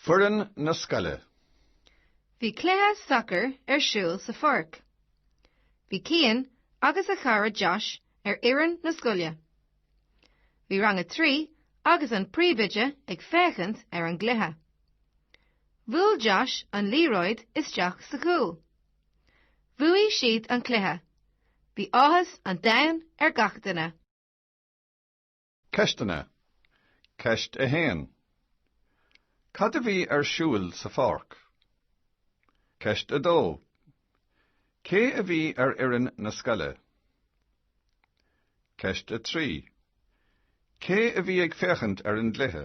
Foireann na scoile. Bhí cluiche sacair ar siúl sa pháirc. Bhí Cian agus a chara Josh ar fhoireann na scoile. Bhí rang a trí agus an príomhoide ag féachaint ar an gcluiche. Bhuail Josh an liathróid isteach sa chúl. Bhuaigh siad an cluiche. Bhí áthas an domhain ar gach duine. Ceisteanna, Ceist 1 Cad a bhí ar siúl sa pháirc? Ceist 2 Cé a bhí ar fhoireann na scoile? Ceist 3 Cé a bhí ag féachaint ar an gcluiche?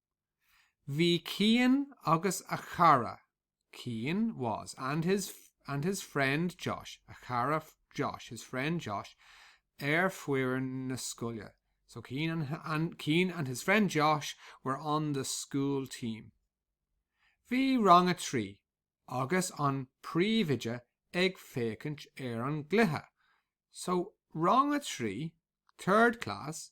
Bhí Cian agus a chara, Cian was and his and his friend Josh, a chara Josh, his friend Josh ar fhoireann na scoile. So Cian and and Cian and his friend Josh were on the school team. Bhí rang a trí agus an príomhoide ag féachaint ar an gcluiche. So rang a trí, third class,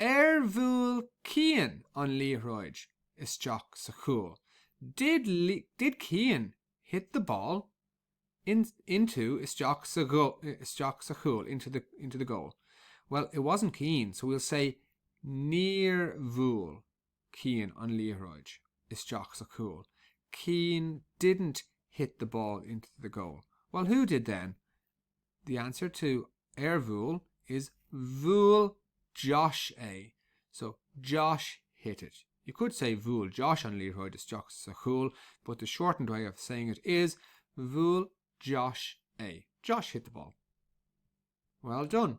Ar bhuail Cian an liathróid isteach sa chúl? Did did Cian hit the ball in into isteach sa isteach sa chúl into the into the goal? Well, it wasn't Cian, so we'll say Níor bhuail Cian an liathróid isteach sa chúl. Cian didn't hit the ball into the goal. Well, who did then? The answer to ar bhuail is Bhuail Josh é. So, Josh hit it. You could say Bhuail Josh an liathróid isteach sa chúl but the shortened way of saying it is Bhuail Josh é. Josh hit the ball. Well done.